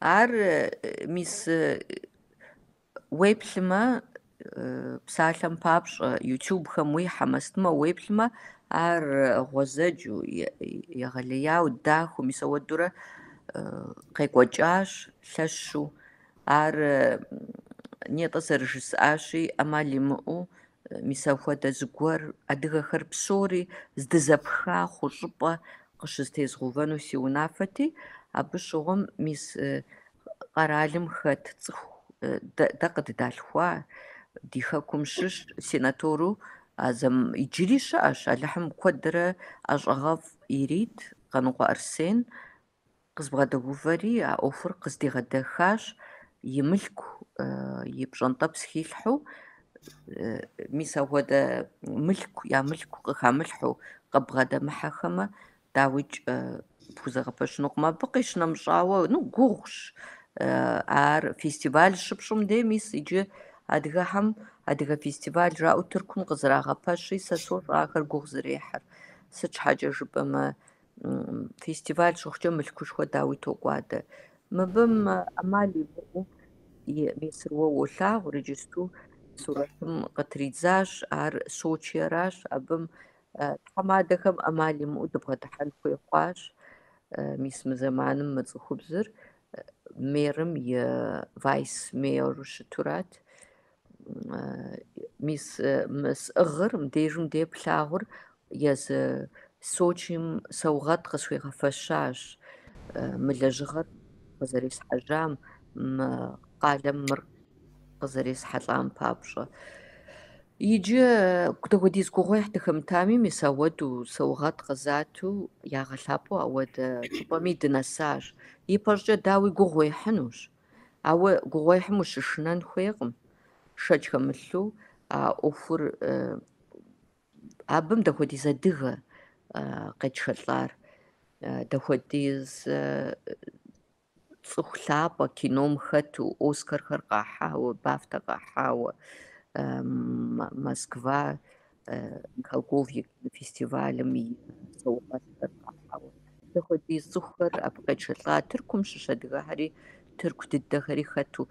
Ар, мис, уеплъмэ, псалъэм папщӏэ, ютубхэм уихьэмэ сытмэ, уеплъмэ, ар гъуэзэджу, егъэлеяу, дахэу, мис ахуэдэурэ къекӏуэкӏащ лъэщу. Ар нетӏэ зэрыжысӏащи, ӏэмал имыӏэу Мис апхуэдэ зыгуэр адыгэхэр псори здызэпха хъу щӏыпӏэ къыщызэтезгъэувэну си унафэти, абы щыгъуэм мис къэралым хэт цӏыху дэ къыддалъхуа, ди хэкум щыщ сенатору а зэм иджыри щыӏэщ, Алыхьым куэдрэ ӏэщӏагъэфӏ ирит Къанокъуэ Арсен, Къызбгъэдэувэри а ӏуэхур къыздигъэдэхащ и мылъку, и пщӏэнтӏэпс хилъхьэу, мис апхуэдэ мылъку, я мылъку къыхамылъхьэу къыббгъэдэмыхьэхэмэ, дауикӏ, пхузэгъэпэщынукъым. Абы къищынэмыщӏауэ, ну, гугъущ ар фестиваль щыпщӏым де, мис иджы адыгэхэм адыгэ фестиваль жаӏэу Тыркум къызэрагъэпэщи, сэ сощӏэ ахэр гугъу зэрехьыр. Сыт щхьэкӏэ жыпӏэмэ, фестиваль щыхъукӏэ мылъкушхуэ дауи токӏуадэ. Мыбым ӏэмал имыӏэу мисыр уэ уолъагъу, иджысту сурэтым къытридзащ, ар Сочиеращ, абым тхьэмадэхэм ӏэмал имыӏэу дыбгъэдыхьэн хуей хъуащ, мис мы зэманым мы цӏыхубзыр мэрым и вайс-мэру щытурат. мис мы сӏыгъыр мыбдежым де плъагъур езы Сочим саугъэт къысхуигъэфэщащ мы лэжьыгъэр къызэресхьэжьам, мы къалэм мыр къызэресхьэлӏам папщӏэ. Иджы дахуэдиз гугъуехь дыхэмытами, мис ауэдэу саугъэт къызату ягъэлъапӏэу ауэдэ щӏыпӏэми дынэсащ. Ипэщӏкӏэ дауи гугъу уехьынущ. Ауэ гугъуехьым ущышынэн хуейкъым, шэч хэмылъу а ӏуэхур абым дахуэдиз адыгэ къетшэлӏар, дахуэдиз цӏыху лъапӏэ кином хэту Оскархэр къахьауэ, Бафтэ къахьауэ, Москва Михалков и фестивалым и саугъэтхэр къахьауэ. Дахуэдиз цӏыхухэр абы къетшэлӏа Тыркум щыщ адыгэхэри, тырку дыдэхэри хэту.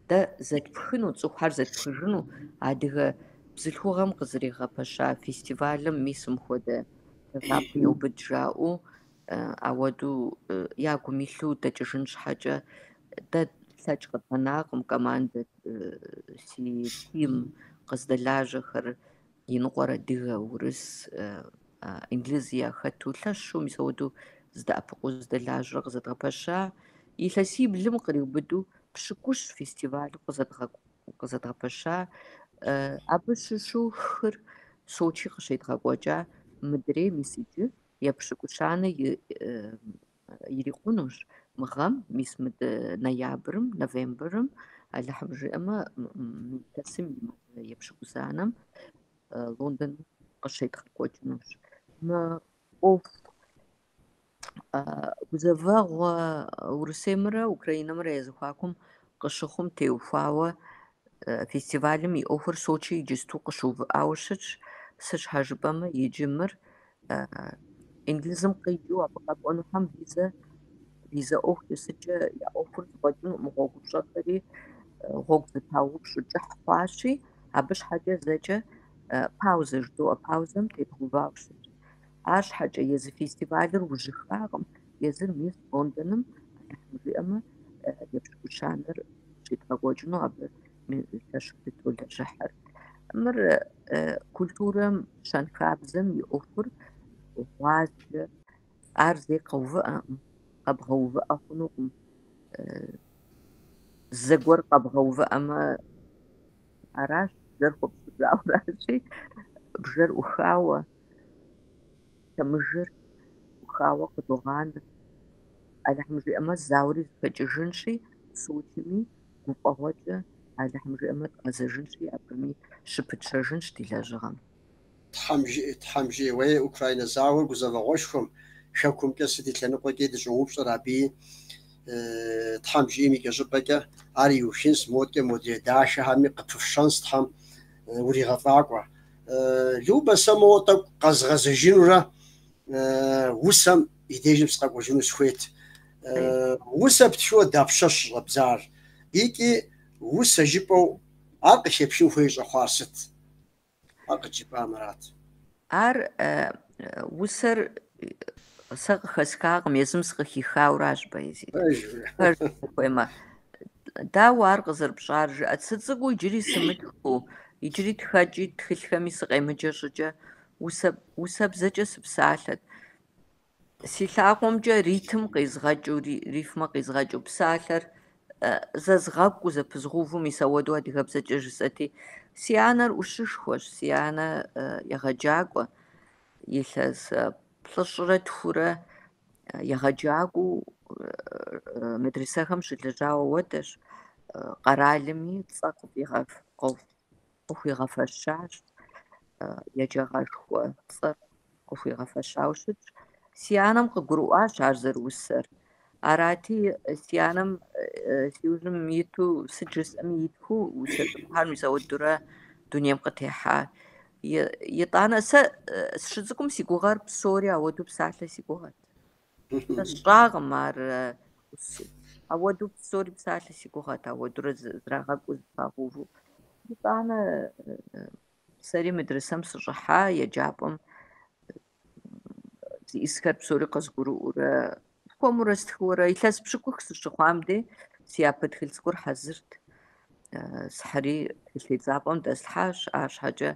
Дэ зэтпхыну, цӏыхухэр зэтпхыжыну адыгэ бзылъхугъэм къызэригъэпэща фестивалым мис мыхуэдэ лъагапӏэ еубыд жаӏэу Ауэдэу ягум илъу дэкӏыжын щхьэкӏэ, дэ тлъэкӏ къыттенакъым командэ си тим къыздэлажьэхэр, иныкъуэр адыгэ, урыс, инглыз яхэту, лъэщу мис ауэдэу здэӏэпыкъуу зыдэлажьэрэ къызэдгъэпэща. Илъэсиблым къриубыду пщыкӏущ фестивалу къызэдгъэпэща. Абы щыщу хыр Сочи къыщедгъэкӏуэкӏа мыдрей мис иджы епщыкӏущанэ ирикъунущ мы гъэм, мис мыдэ ноябрым, новембрым, Алыхьым жиӏэмэ, илъэсым и мазэ епщыкӏузанэм Лондон къыщедгъэкӏуэкӏынущ. Мы ӏуэху гузэвэгъуэ Урысеймрэ Украинэмрэ я зэхуакум къыщыхъум теухуауэ фестивалым и ӏуэхур Сочи иджысту къыщыувыӏауэ щытщ, сыт щхьэ жыпӏэмэ иджы мыр Инглызым къикӏыу абы къэкӏуэнухэм визэ визэ ӏуэху тесыкӏэ я ӏуэхур зыфӏэкӏынукъым гъуэгу пщӏэхэри, гъуэгу зэпаупщӏу кӏыхь хъуащи, абы щхьэкӏэ зэкӏэ паузэ жыдоӏэ, паузэм тедгъэувауэ щытщ. Арщхьэкӏэ езы фестивалыр ужьыхакъым, езыр мис Лондоным, Алыхьым жиӏэмэ, епщыкӏущанэр щедгъэкӏуэкӏыну абы Мелыщэщ дытолэжьыхьыр. Мыр культурэм, щэнхабзэм и ӏуэхур, гъуазджэр, ар зэи къэувыӏэкъым, къэбгъэувыӏэ хъунукъым. Зэгуэр къэбгъэувыӏэмэ, аращ, бжэр хуэпщӏыжауращи, бжэр ӏухауэ, лъэмыжыр ӏухауэ къыдогъанэ. Алыхьым жиӏэмэ, зауэри зэхэкӏыжынщи, Сочыми Гуфӏэгъуэкӏэ Алыхьым жиӏэмэ, дгъэзэжынщи, абыми щыпытщэжынщ ди лэжьыгъэм. Тхьэм жиӏи, Тхьэм жиӏи, уей, Украинэ зауэр гузэвэгъуэшхуэм, Хэкумкӏэ сыт и лъэныкъуэкӏи дыщӏоупщӏэр абыи, Тхьэм жиӏэм икӏэщӏыпӏэкӏэ, ар иухынщ, модкӏэ модрей дахэхэми къыпыфщэнщ, Тхьэм уригъэфӏакӏуэ. Любэ, сэ моуэ тӏэкӏу къэзгъэзэжынурэ усэм И дежым сыкъэкӏуэжыну сыхуейт. Усэ птхыуэ дапщэщ щӏэбдзар? Икӏи усэ жыпӏэу ар къыхэпхын хуей щӏэхъуар сыт? Ар къыджепӏамэрат. Ар, усэр, сэ къыхэсхакъым, езым сыкъыхихауращ, Боязид. Пэжу ухуеймэ, дауэ ар къызэрыпщӏар, жыӏэт. Сыцӏыкӏуу иджыри сымытхыу, иджыри тхэкӏи тхылъхэми сыкъемыджэ щӏыкӏэ, усэ, усэбзэкӏэ сыпсалъэт. Си лъакъуэмкӏэ ритм къизгъэкӏыу, рифмэ къизгъэкӏыу псалъэр зэзгъэкӏуу, зэпызгъувэу, мис ауэдэу адыгэбзэкӏэ жысӏэти, си анэр ӏущышхуэщ, си анэ егъэджакӏуэ, илъэс плӏыщӏрэ тхурэ егъэджакӏуэу медресэхэм щылэжьауэ уэдэщ, къэралми цӏэ къыфӏигъэф. къыхуигъэфэщащ, еджагъэшхуэ цӏэр къыхуигъэфэщауэ щытщ. Си анэм къыгурыӏуащ ар зэрыусэр. Арати, си анэм си ужьым иту сыт жысӏэми итхыу усэ цӏыкӏухэ мис ауэдурэ дунейм къытехьа. Итӏанэ сэ сыщыцӏыкӏум си гугъэр псори ауэдэу псалъэ си гугъэт. Сщӏакъым ар ауэдэу псори псалъэ си гугъэт ауэдурэ зэрагъэкӏуу зэхагъэувэу. Итӏанэ сэри медресэм сыщӏыхьа еджапӏэм зищӏысхэр псори къызгурыӏуурэ хуэмурэ стхыурэ илъэс пщыкӏух сыщыхъуам де си япэ тхыль цӏыкӏур хьэзырт. Схьыри тхылъ тедзапӏэм дэслъхьащ, арщхьэкӏэ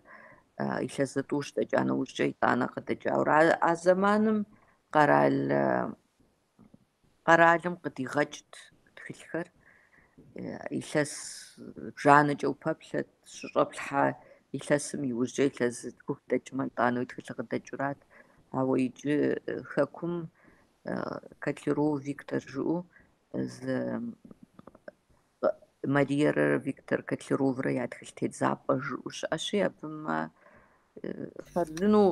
илъэс зытӏущ дэкӏа нэужькӏэ итӏанэ къыдэкӏауэ. А зэманым Къэрал къэралым къыдигъэкӏт тхылъхэр, илъэс бжанэкӏэ упэплъэт, щыщӏэплъхьа илъэсым иужькӏэ илъэс зытхух дэкӏмэ, итӏанэ уи тхылъыр къыдэкӏурат. Ауэ иджы хэкум Котляров Виктор жыӏэу зы Мариерэ Виктор Котляроврэ я тхылъ тедзапӏэ жыӏэу щыӏэщи, абымэ хъарзынэу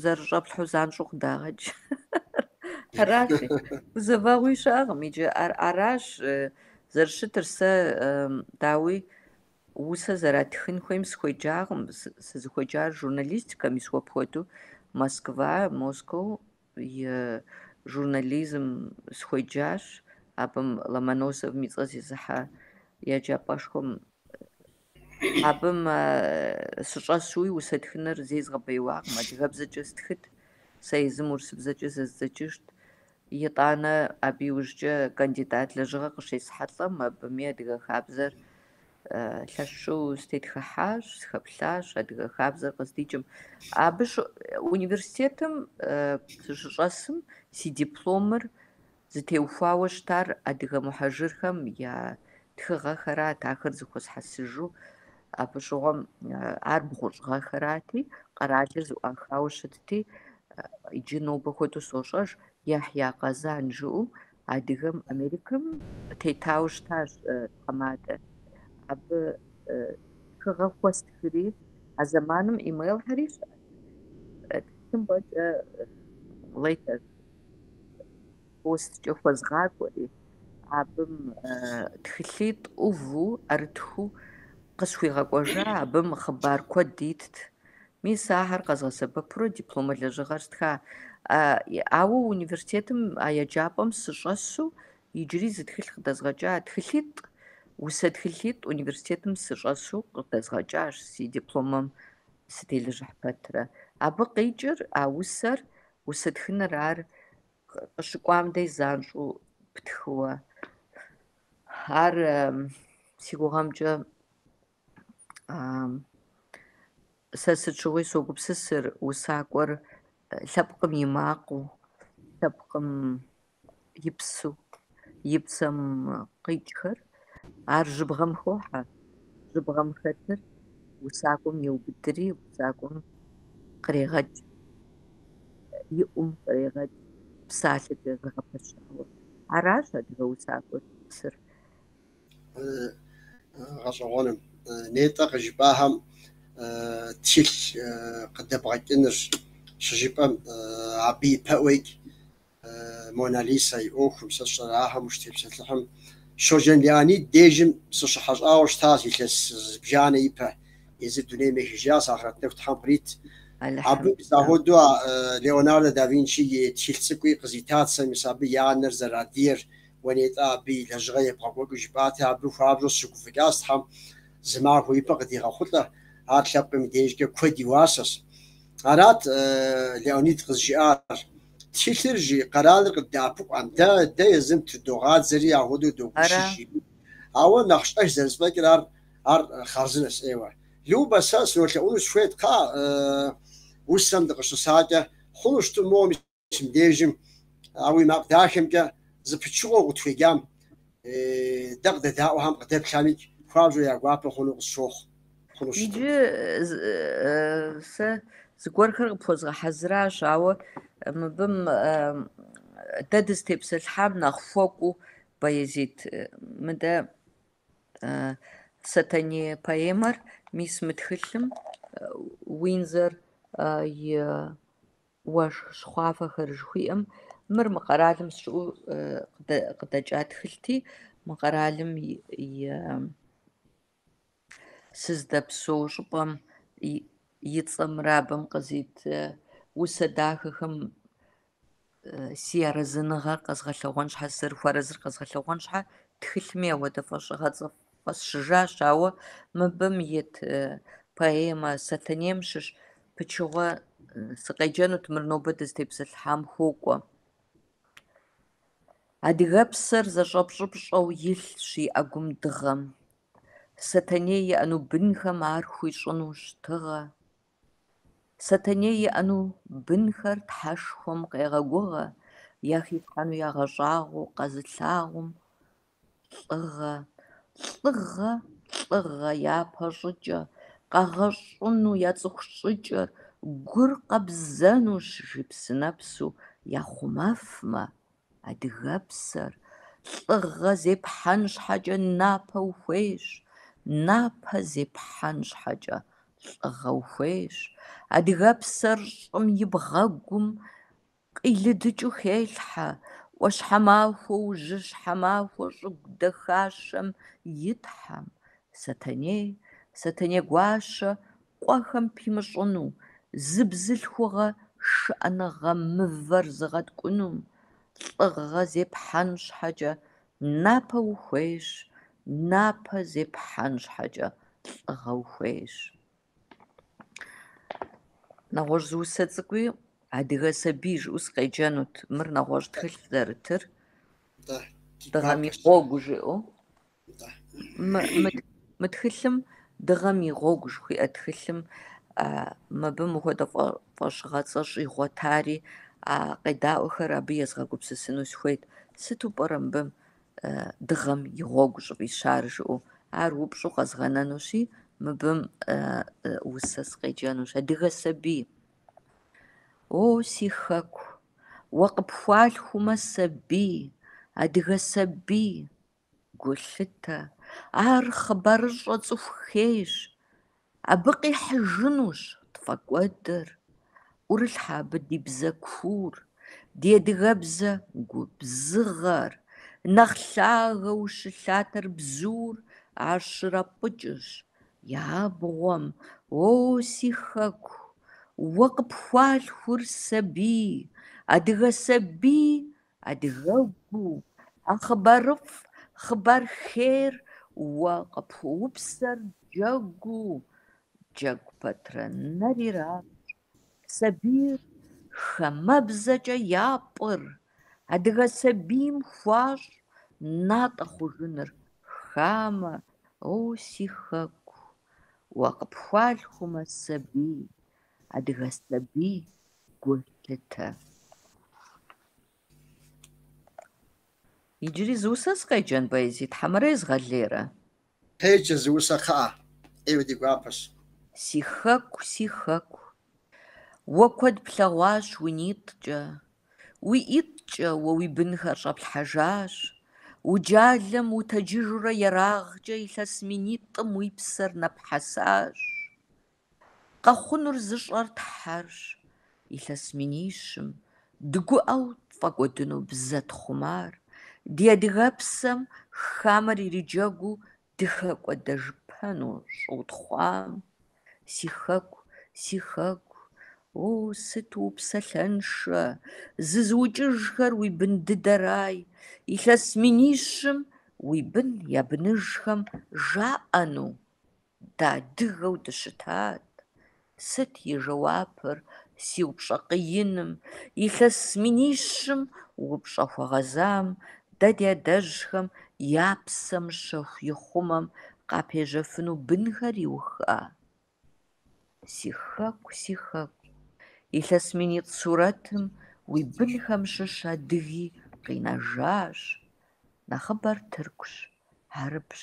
зэрыщӏэплъхьэу занщӏэу къыдагъэкӏ. Аращи, гузэвэгъуи щыӏэкъым иджы. Аращ зэрыщытыр сэ, дауи, усэ зэратхын хуейм сыхуеджакъым. Сызыхуеджар журналистикэм, мис уэ пхуэдэу Москва, Москоу и журнализм сыхуеджащ, абым Ломоносовым и цӏэ зезыхьэ еджапӏэшхуэм абым сыщӏэсуи усэ тхыныр зэи згъэбэяуакъым, адыгэбзэкӏэ стхыт, сэ езым урысыбзэкӏэ зэздзэкӏыжт. Итӏанэ абы иужькӏэ кандидат лэжьыгъэ къыщесхьэлӏэм, абыми адыгэ хабзэр лъэщу сытетхыхьащ, сыхэплъащ адыгэ хабзэр къыздикӏым. Абы университетым сыщыщӏэсым си дипломыр зытеухуауэ щытар адыгэ мухьэжырхэм я тхыгъэхэрат, ахэр зыхуэсхьэсыжу абы щыгъуэм ар бгъущӏ гъэхэрати, къэралыр зэӏуахауэ щытти, иджы нобэ хуэдэу сощӏэж, Яхья Къэзан жыӏэу Адыгэм Америкэм тетауэ щытащ тхьэмадэ. Абы тхыгъэ хуэстхри, а зэманым имейлхэри щыӏэтэкъым, ӏэкӏэ лейтер посткӏэ хуэзгъакӏуэри, абым тхылъитӏ ӏуву ӏэрытхыу къысхуигъэкӏуэжа, абым хъыбар куэд итт, Мис ахэр къэзгъэсэбэпурэ дипломэ лэжьыгъэр стха. Ауэ университетым а еджапӏэм сыщӏэсу иджыри зы тхылъ къыдэзгъэкӏа, тхылъитӏ, усэ тхылъитӏ университетым сыщӏэсу къыдэзгъэкӏащ си дипломэм сытелэжьыхь пэтрэ. Абы къикӏыр, а усэр, усэ тхыныр ар къыщыкӏуам дей занщӏэу птхыуэ. Ар си гугъэмкӏэ Сэ сыт щыгъуи согупсысыр усакӏуэр лъэпкъым и макъыу, лъэпкъым и псэу, и псэм къикӏхэр, ар жьыбгъэм хохьэ, жьыбгъэм хэтыр усакӏуэм еубыдри, усакӏуэм кърегъэкӏ, и ӏум кърегъэкӏ, псалъэкӏэ зэгъэпэщауэ. Аращ адыгэ усакӏуэр сэр. гъэщӏэгъуэным. Нетӏэ къыжыпӏахэм тхылъ къыдэбгъэкӏыныр щыжыпӏэм, абы ипэӏуэкӏэ Мона Лизэ и ӏуэхум. Сэ сщӏэрэ, ахэм ущытепсэлъыхьым? Щоджэн Леонид дежым сыщыхьэщӏауэ щытащ илъэс зыбжанэ ипэ. Езыр дунейм ехыжащ, ахърэт нэху Тхьэм кърит. Абы мис ахуэдэу Леонардо да Винчи и тхылъ цӏыкӏуи къызитат сэ, мис абы и анэр зэрадыгэр Уэ нетӏэ абы и лэжьыгъэр ебгъэкӏуэкӏыу жыпӏати, абы хуабжьу сыщыгуфӏыкӏащ Тхьэм зы махуэ ипэ къыдигъэхъулӏэ, ар лъэпкъым и дежкӏэ куэд и уасэщ. Арат Леонид къызжиӏар. Тхылъыр, жи, къэралыр къыддэӏэпыкъуам, дэ, дэ езым тыдогъадзэри ахуэдэу догуэшыж, жиӏэу. Ауэ нэхъ щӏэх зэрызэфӏэкӏыр ар, ар хъарзынэщ, ӏейуэ. Любэ, сэ сынолъэӏуну сыхуейт, кхъыӏэ, усэм дыкъыщысакӏэ, хъуну щытмэ, моуэ мис Мыбдежым, а уи макъ дахэмкӏэ зы пычыгъуэ укъытхуеджам, дэ къыдэдаӏуэхэм къыдэплъхэмикӏ, хуабжьу я гуапэ хъуну къысщохъу. Хъунущ. Иджы сэ зыгуэрхэр къыпхуэзгъэхьэзыращ, ауэ мыбым дэ дызытепсэлъхьам нэхъ хуэкӏуу поэзие. Мыдэ Сэтэней поэмэр мис мы тхылъым Уиндзор и Уэшх щхъуафэхэр жыхуиӏэм, мыр мы къэралым сыщыӏэу къыдэкӏа тхылъти, мы къэралым и сыздэпсэу щӏыпӏэм и цӏэмрэ абым къызит усэ дахэхэм си арэзыныгъэр къэзгъэлъэгъуэн щхьэ, сызэрыхуэарэзыр къэзгъэлъэгъуэн щхьэ, тхылъми апхуэдэ фӏэщыгъэцӏэ фӏ Фӏэсщыжащ, ауэ мыбым ит поэмэ Сэтэнейм щыщ пычыгъуэ сыкъеджэнут, мыр нобэ дызытепсэлъыхьам хуокӏуэ. Адыгэпсэр зэщӏэпщӏыпщӏэу илъщ и ӏэгум дыгъэм. Сэтэней иӏэну бынхэм ар хуищӏынущ тыгъэ. Сэтэней иӏэну бынхэр Тхьэшхуэм къегъэгугъэ, яхилъхьэну ягъэщӏагъуэу къэзылъагъум лӏыгъэ, лӏыгъэ, лӏыгъэ япэ щӏыкӏэ, къэгъэщӏыну я цӏыху щӏыкӏэр гур къэбзэнущ жи, псынэпсу яхъумэфмэ, адыгэпсэр, лӏыгъэ зепхьэн щхьэкӏэ напэ ухуейщ, напэ зепхьэн щхьэкӏэ лӏыгъэ ухуейщ, адыгэпсэр щӏым и бгъэгум Къилыдыкӏыу хелъхьэ ӏуащхьэмахуэ ужьыщхьэмахуэ щӏыгу дахащэм и тхьэм, Сэтэней, Сэтэнегуащэ, къуэхэм пимыщӏыну, зы бзылъхугъэ шыӏэныгъэ мывэр зыгъэткӏуну, лӏыгъэ зепхьэн щхьэкӏэ напэ ухуейщ, напэ зепхьэн щхьэкӏэ лӏыгъэ ухуейщ. Нэгъуэщӏ зы усэ цӏыкӏуи адыгэ сабий жыӏэу сыкъеджэнут. Мыр нэгъуэщӏ тхылъ зэрытыр. Дыгъэм и гъуэгу жыӏэу. Мы тхылъым дыгъэм и гъуэгу жыхуиӏэ тхылъым мыбы мыхуэдэ фӏэщыгъэцӏэ щӏигъуэтари, а къедаӏуэхэр абы езгъэгупсысыну сыхуейт. Сыту пӏэрэ мыбы дыгъэм и гъуэгу щӏыфӏищар жыӏэу, ар упщӏу къэзгъэнэнущи, мыбым усэ сыкъеджэнущ, адыгэ сабий. О, си хэку, уэ къыпхуалъхумэ сабий, адыгэ сабий, гулъытэ, ар хъыбарыщӏэ цӏыху хейщ, Абы къихьыжынущ тфӏэкӏуэдыр, ӏурылъхьэ абы ди бзэ куур, ди адыгэбзэ губзыгъэр, нэхъ лъагэу щылъатэр бзур, ар щрапӏыкӏыщ и абгъуэм, О, си хэку, уэ къыпхуалъхур сабий, адыгэ сабий Адыгэгу, а хъыбарыфӏ, хъыбар хейр уэ къыпхуэупсэр джэгуу, джэгу пэтрэ нэр иращӏ, сабийр хамэбзэкӏэ япӏыр, адыгэ сабийм хуащӏ натӏэ хъужыныр хамэ, о, си хэку, уэ къыпхуалъхумэ сабий, адыгэ сабий гулъытэ. Иджыри зы усэ сыкъеджэн поэзи хьэмэрэ езгъэлейрэ? Къеджэ зы усэ кхъыӏэ, ӏейуэ ди гуапэщ. Си хэку, си хэку. Уэ куэд плъэгъуащ уи нитӏкӏэ, уи ӏитӏкӏэ уэ уи бынхэр щӏэплъхьэжащ, уджалэм утэджыжурэ ерагъкӏэ илъэс минитӏым уи псэр нэпхьэсащ. Къэхъунур зыщӏэр Тхьэрщ, илъэс минищым, дыгуӏэу тфӏэкӏуэдыну бзэ тхъумар, ди адыгэпсэм хамэр ириджэгуу дыхэкӏуэдэжыпэну щӏэутхъуам, си хэку, си хэку, о, сыт упсэлъэншэ, зызыукӏыжхэр уи бын дыдэрай, илъэс минищым уи бын я быныжхэм жаӏэну. Дэ адыгэу дыщытат. Сыт и жэуапыр си упщӏэ къииным? Илъэс минищым упщӏэ хуэгъэзам, дэ ди адэжьхэм я псэм щэху ихъумэм къапежьэфыну бынхэр иуха? Си хэку, си хэку. Илъэс минитӏ сурэтым уи бынхэм щыщ адыги къинэжащ. Нэхъыбэр тыркущ, хьэрыпщ,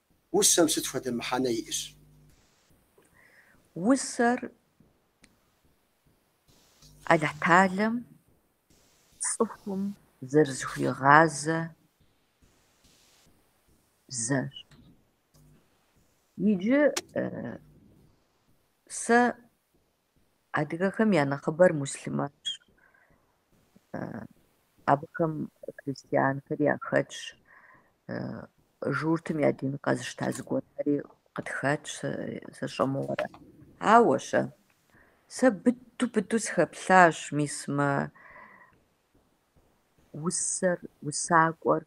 Усэм сыт хуэдэ мыхьэнэ иӏэщ? Усэр Алыхьталэм цӏыхум зэрызыхуигъазэ бзэщ. Иджы сэ Адыгэхэм я нэхъыбэр муслъымэнщ. Абыхэм христианхэр яхэтщ. Журтым я дин къэзышта зыгуэрхэри къытхэтщ, сэ сщӏэ мыгъуэрэ. Ауэ-щэ, сэ быдэу-быдэу сыхэплъащ мис мы усэр, усакӏуэр.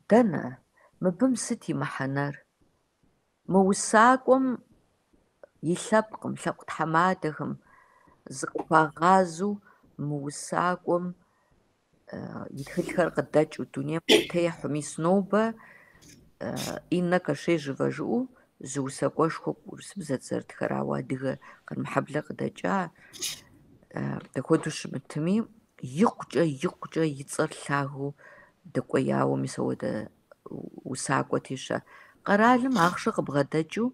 Дэнэ, мыбым сыт и мыхьэнэр? Мы усакӏуэм и лъэпкъым, лъэпкъ тхьэмадэхэм зыкъыхуагъазэу мы усакӏуэм и тхылъхэр къыдэкӏыу дунейм къытехьэу, мис нобэ Иннэ Кашежевэ жыӏэу Зы усакӏуэшхуэ урысыбзэт зэрытхэр, ауэ адыгэ Къармэхьэблэ къыдэкӏа дапхуэдэу щымытми, икъукӏэ, икъукӏэ и цӏэр лъагэу дэкӏуеяуэ мис апхуэдэ усакӏуэти щэ. Къэралым ахъшэ къыбгъэдэкӏыу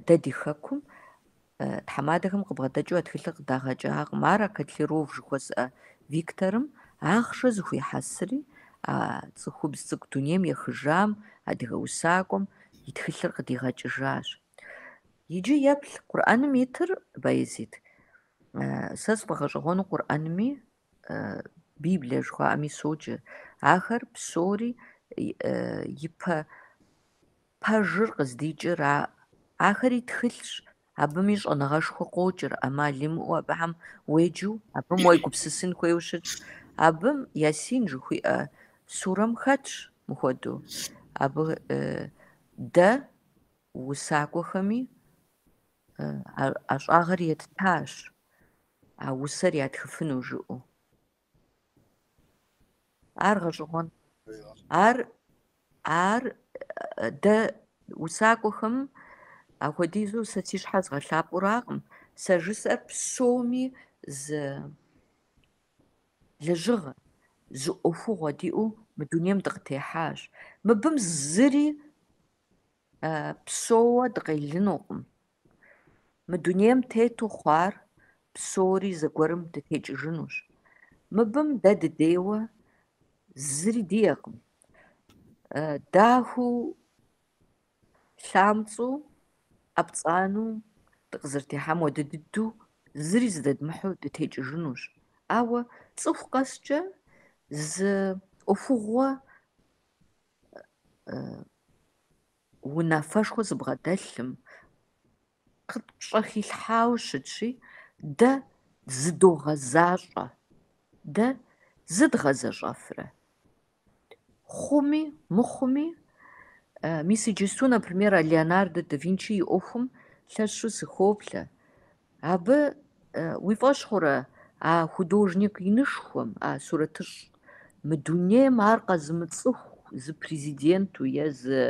дэ ди хэкум Тхьэмадэхэм къыбгъэдэкӏыу а тхылъыр къыдагъэкӏакъым. Ар а Котляров жыхуэсӏэ Викторым ахъшэ зэхуихьэсри, а цӏыхубз цӏыкӏу дунейм ехыжам, адыгэ усакӏуэм, и тхылъыр къыдигъэкӏыжащ. Иджы еплъ Къурӏэным итыр, Баязид. Сэ сфӏэгъэщӏэгъуэну Къурӏэнми, Библие жыхуаӏэми соджэ. Ахэр псори ипэ Пэжыр къыздикӏыр а ахэри тхылъщ, абыми щӏэныгъэшхуэ къокӏыр, ӏэмал имыӏэу абыхэм уеджэу, абым уегупсысын хуейуэ щытщ. Абым Ясин жыхуиӏэ сурэм хэтщ мыхуэдэу. Абы дэ усакӏуэхэм ӏэщӏагъэр еттащ а усэр ятхыфыну жиӏэу. Ар гъэщӏэгъуэн. Ар, ар дэ усакӏуэхэм апхуэдизу сэ си щхьэр згъэлъапӏэуракъым. Сэ жысӏэр псоми зы лэжьыгъэ, зы ӏуэхугъуэ диӏэу мы дунейм дыкъытехьащ. Мыбым зыри псэууэ дыкъелынукъым. Мы дунейм тету хъуар псори зэгуэрым дытекӏыжынущ. Мыбым дэ дыдейуэ зыри диӏэкъым. Дахэу, лъамцӏэу, ӏэпцӏанэу дыкъызэрытехьам хуэдэ дыдэу зыри зыдэдмыхьу дытекӏыжынущ. Ауэ цӏыху къэскӏэ зы ӏуэхугъуэ унафэшхуэ зыбгъэдэлъым, къытпщэрилъхьауэ щытщи, дэ зыдогъэзащӏэ, дэ зыдгъэзэщӏэфрэ. Хъуми, мыхъуми, мис иджысту, например, а Леонардо да Винчи и ӏуэхум лъэщу сыхоплъэ. Абы уи фӏэщ хъурэ а художник инышхуэм, а сурэтыщӏ мы дунейм ар къэзымыцӏыху зы президенту е зы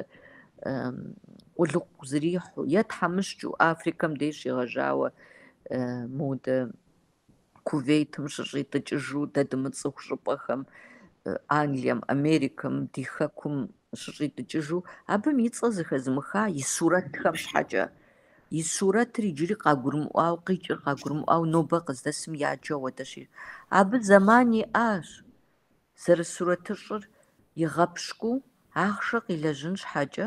къулыкъу зэрихьэу е тхьэмыщкӏэу Африкэм деж щегъэжьауэ модэ Кувейтым щыщӏитӏыкӏыжу дэ дымыцӏыху щӏыпӏэхэм Англием, Америкэм, ди хэкум щыщӏитӏыкӏыжу, абым и цӏэ зэхэзымыха и сурэтхэм щхьэкӏэ. И сурэтыр иджыри къагурымыӏуауэ, къикӏыр къагурымыӏуауэ нобэ къыздэсым яджу апхуэдэщи, абы зэман иӏащ, зэрысурэтыщӏыр игъэпщкӏуу, ахъшэ къилэжьын щхьэкӏэ.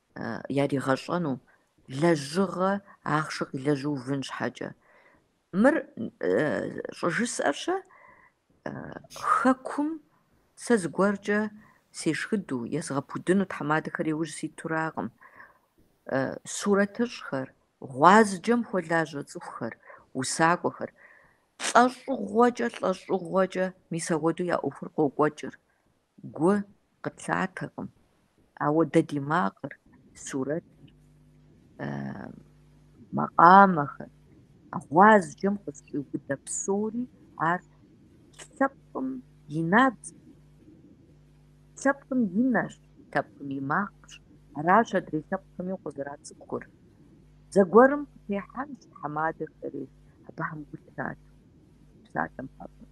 яригъэщӏэну, лэжьыгъэ ахъшэ къилэжьуувын щхьэкӏэ. Мыр щӏыжысӏэр-щэ Хэкум сэ зыгуэркӏэ сешхыдэу, езгъэпудыну тхьэмадэхэр яужь ситуракъым. Сурэтыщӏхэр, гъуазджэм хуэлажьэ цӏыхухэр, усакӏуэхэр. Лӏэщӏыгъуэкӏэ, лӏэщӏыгъуэкӏэ мис апхуэдэу я ӏуэхур къокӏуэкӏыр. Гу къытлъатэкъым, ауэ дэ ди макъыр, сурэтыр, макъамэхэр, гъуазджэм къызэщӏиубыдэ псори ар лъэпкъым и набдзэщ, лъэпкъым и нэщ, лъэпкъым и макъщ, аращ адрей лъэпкъхэми укъызэрацӏыхур. Зэгуэрым къытехьэнщ тхьэмадэхэри абыхэм гу лъатэу псалъэм папщӏэ.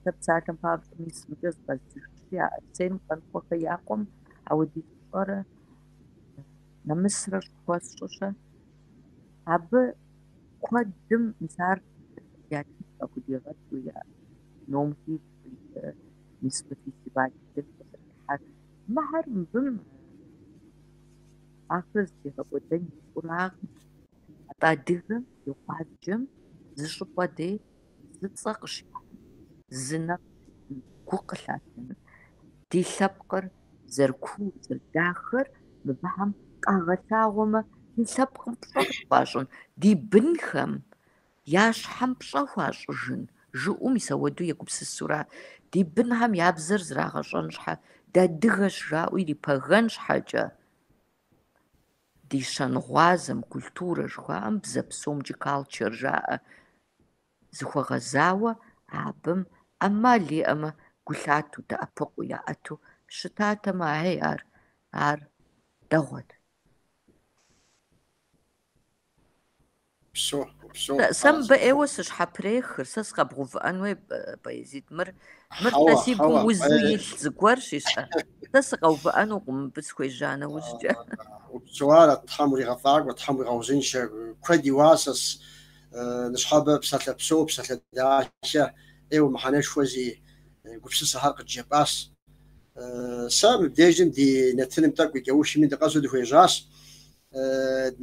Сэ псалъэм папщӏэ мис мыкӏэ зыкъэзыжыпщи, а Арсен Къанокъуэхэ я къуэм ауэдиз пщӏэрэ нэмысрэ щӏыхуэсщӏыщэ. Абы куэдым мис ар я тхылъ къыхудигъэкӏыу, я ном хищӏ къищӏэу мис мы фестиваль дэкӏ къызэрыхьэхэр. Мыхьэр мыбым ахэр зытегъэкӏуэдэн и фӏуракъым. Атӏэ адыгэм и гъуазджэм зыщӏыпӏэ дей Зы цӏэ къыщыхъуным, зы нэфӏ щыӏэным, гу къылъатэным. Ди лъэпкъыр зэрыкуур, зэрыдахэр мыбыхьэм къагъэлъагъуэмэ, ди лъэпкъым пщӏэ къыхуащӏын, ди бынхэм я щхьэм пщӏэ хуащӏыжын, жыӏэу мис ауэдэу егупсысура? Ди бынхэм я бзэр зрагъэщӏэн щхьэ, дадыгэщ жаӏэу ирипэгэн щхьэкӏэ. Ди щэнгъуазэм культурэ жыхуаӏэм бзэ псомкӏи culture жаӏэ. Зыхуэгъэзауэ абым ӏэмал иӏэмэ гу лъату дэӏэпыкъуу яӏэту щытатэмэ, ахьей ар, ар дэгъуэт. Сэ мыбы ӏейуэ сыщхьэпрехыр, сэ сыкъэбгъэувыӏэн хуей, Баязид, мыр, мыр дэ си гум узу илъ зыгуэрщ, ищӏэ. Сэ сыкъэувыӏэнукъым мыбы схуежьа нэужькӏэ. Упсэу ара, Тхьэм уригъэфӏакӏуэ, Тхьэм уигъэузыншэ, куэд и уасэс, Ныщхьэбэ псалъэ псо, псалъэ далъэ, ӏейуэ мыхьэнэшхуэ зиӏэ гупсысэхэр къыджепӏащ. Сэ мыбдежым ди нэтыным тӏэкӏу и кӏэушми дыкъэсу дыхуежьащ.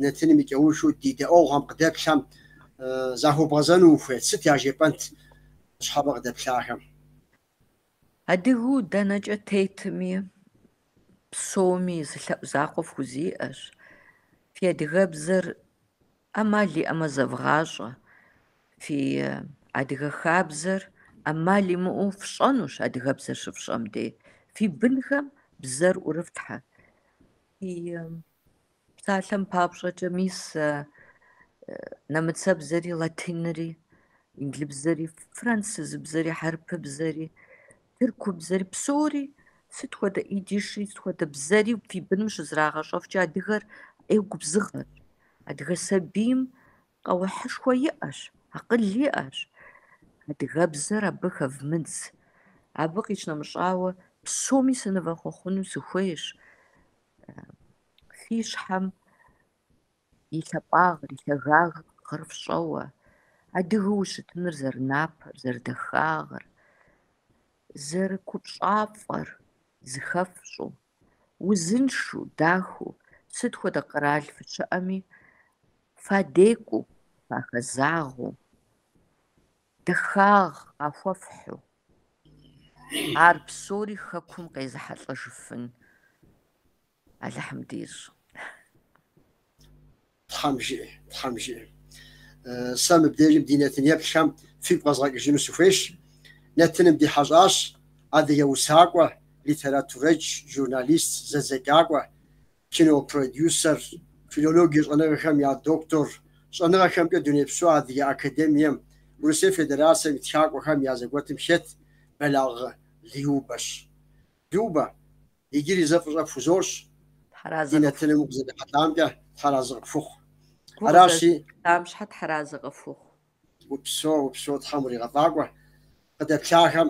Нэтыным и кӏэушу ди дэӏуэгъухэм къыдэплъэм захуэбгъэзэну ухуейт, сыт яжепӏэнт ныщхьэбэ къыдэплъахэм? Адыгэу дэнэкӏэ тетми, псоми зы лъэӏу закъуэ фхузиӏэщ. Фи адыгэбзэр ӏэмал иӏэмэ зэвгъащӏэ, фи адыгэ хабзэр ӏэмал имыӏэу фщӏэнущ адыгэбзэр щыфщӏэм дей, фи бынхэм бзэр ӏурыфлъхьэ. Фи псалъэм папщӏэкӏэ мис нэмыцэбзэри, латинри, инглыбзэри, францызыбзэри, хьэрыпыбзэри, Тырку бзэри псори сыт хуэдэ идиш, сыт хуэдэ бзэри фи быным щызрагъэщӏэфкӏэ адыгэр ӏей губзыгъэщ, адыгэ сабийм къэухьышхуэ иӏэщ, акъыл иӏэщ. Адыгэбзэр абы хэвмыдз. Абы къищынэмыщӏауэ псоми сынывэхъуэхъуну сыхуейщ. Фи щхьэм и лъэпӏагъыр, и лъагагъыр фщӏэуэ, адыгэу ущытыныр зэрынапэр, зэрыдэхагъэр, зэрыкупщӏафӏэр зыхэфщӏу, узыншу, дахэу, сыт хуэдэ къэрал фыщыӏэми фадекӏуу, фахэзагъэу, дахагъ къахуэфхьу, ар псори Хэкум къезыхьэлӏэжыфын. Алыхьым дищӏ. Тхьэм жиӏэ, Тхьэм жиӏэ. Сэ мыбдежым ди нэтын еплъхэм фигу къэзгъэкӏыжыну сыхуейщ. Нэтыным ди хьэщӏащ адыгэ усакӏуэ, литературэдж, журналист, зэдзэкӏакӏуэ, кинопродюсер, филологие щӏэныгъэхэм я доктор, щӏэныгъэхэмкӏэ Дунейпсо Адыгэ академием, Урысей Федерацэм и тхакӏуэхэм я зэгуэтым хет Бэлагъ Любэщ. Любэ, иджыри зэ фӏыщӏэ пхузощӏ ди нэтыным укъызэрырихьэлӏамкӏэ, тхьэразы къыпхухъу. Аращи. Фыкъызэрырихьэлӏам щхьэкӏэ тхьэразы къыфхухъу. Упсо, упсо, Тхьэм уригъэфӏэкӏуэ. Къыдэплъахэм,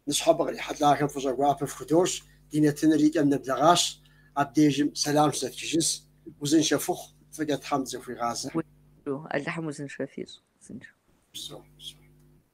ныщхьэбэ кърихьэлӏахэм фӏыщӏэ гуапэ фхудощӏ, ди нэтыныр и кӏэм нэблэгъащ, абдежым сэлам щызэтхыжынщ. Узыншэ фыхъу, фӏыкӏэ Тхьэм дызэхуигъазэ. Узыншэу, Алыхьым узыншэ фищӏ. Узыншэу. Псо, псо.